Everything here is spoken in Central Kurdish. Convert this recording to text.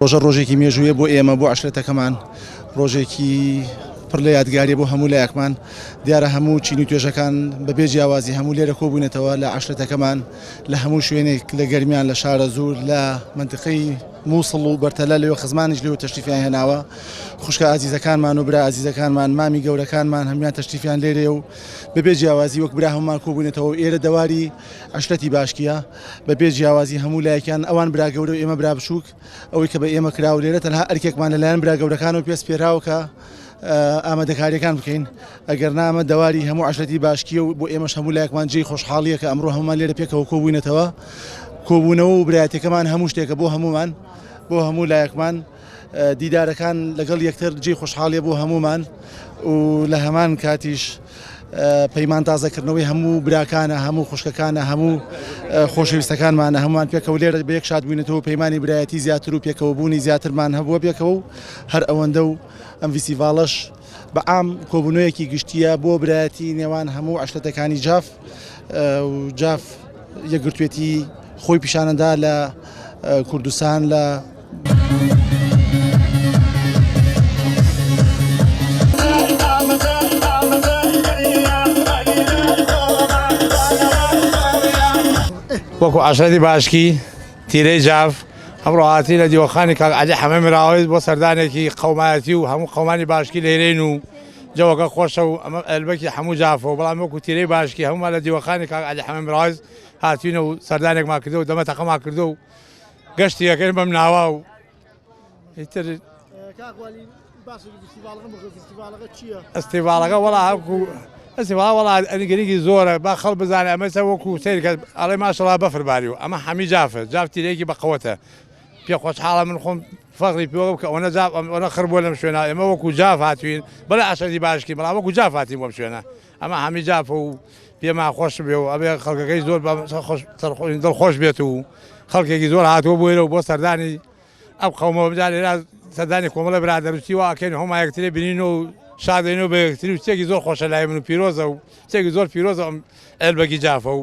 ڕۆژە ڕۆژێکی مێژوویە بۆ ئێمە بۆ عشرەتەکەمان ڕۆژێکی پڕ لە یادگاری بۆ هەموو لایەکمان دیارە هەموو چینی توێژەکان بەبێ جیاوازی هەموو لێرە کۆبوونەتەوە لە عشرەتەکەمان لە هەموو شوێنێک لە گەرمیان لە شارە زور لە منتقەی مووسڵ و بەرتەلە لەوە خزمانیش لەوە تەشتیفیان هێناوە خوشکە ئازیزەکانمان و برا ئازیزەکانمان مامی گەورەکانمان هەمیان تەشتیفیان لێرێ و بەبێ جیاوازی وەک برا هەمومان کۆبوونەتەوە ئێرە دەواری عەشرەتی باشکیە بە بێ جیاوازی هەموو لایەکیان ئەوان برا گەورە و ئێمە برا بچووک ئەوەی کە بە ئێمە کرا و لێرە تەنها ئەرکێکمان لەلایەن برا گەورەکانەوە پێست پێراوە کە ئامادەکاریەکان بکەین ئەگەر نامە دەواری هەموو عشرەتی باشکیە و بۆ ئێمەش هەموو لایەکمان جێی خۆشحاڵیە کە ئەمڕۆ هەمومان لێرە پێکەوە کۆبووینەتەوە کۆبوونەوە و برایەتەکەمان هەموو شتێکە بۆ هەمومان بۆ هەموو لایەکمان دیدارەکان لەگەڵ یەکتر جێی خۆشحاڵیە بۆ هەموومان و لە هەمان کاتیش پەیمان تازەکردنەوەی هەموو براکانە هەموو خوشکەکانە هەموو خۆشەویستەکانمانە هەمومان پێکەوە لێرە بەیەک شاد بووینەوە پەیمانانی برایەتی زیاتر و پێکەوە بوونی زیاترمان هەبووە پێکەوە و هەر ئەوەندە و ئەم ویسیڤاڵش بە ئام کۆبوونەوەیەکی گشتیە بۆ برایەتی نێوان هەموو عشتەتەکانی جاف و جاف یەکگرتوێتی خۆی پیشانەدا لە کوردستان لە وەکو عشرەتی باشکی تیرەی جاف ئەمڕۆ هاتی لە دیوەخانی کاک علی حەمە مراوەیت بۆ سەردانێکی قەومایەتی و هەموو قەمانی باشکی لێرین و جەوەکە خۆشە و ئەمە ئەلبەکی هەموو جافەوە بەڵام وەکو تیرەی باشکی هەمووان لە دیوەخانی کاک علی حەمە مراوەیت هاتوینە و سەردانێکمان کردو دەمە تەقەما کردو و گەشتی یەکەی بەم ناوا و ئیتر ئەستیڤاڵەکە وەڵا هەکو ئەسیوا وەڵا ئەنگریکی زۆرە با خەڵ بزانێ ئەمەسە وەکو سیرکە ئەڵێ ماشەڵا بەفرباری و ئەمە حەمی جافە جافتیرێکی بەقەوەتە پێ خۆشحاڵە من خۆم فەخری پێوە بکە ئەوە جاف ئەوە خڕبووە لەم شوێنە ئێمە وەکو جاف هاتوین بەڵێ ئاشەدی باشکی بەڵام وەکو جاف هاتین بۆم شوێنە ئەمە هەمی جافە و پێما خۆش بێ و ئەبێ خەڵکەکەی زۆر دڵ خۆش بێت و خەڵکێکی زۆر هاتووە بۆێرە و بۆ سەردانی ئەم قەومەوە بدا لێرا سەردانی کۆمەڵە برادەروستی واکەین هۆما یەکتری بینین و شادێن و بەکتری و چێکی زۆر خۆشە لای من و پیرۆزە و چێکی زۆر پیرۆزە ئەلبەگی جافە و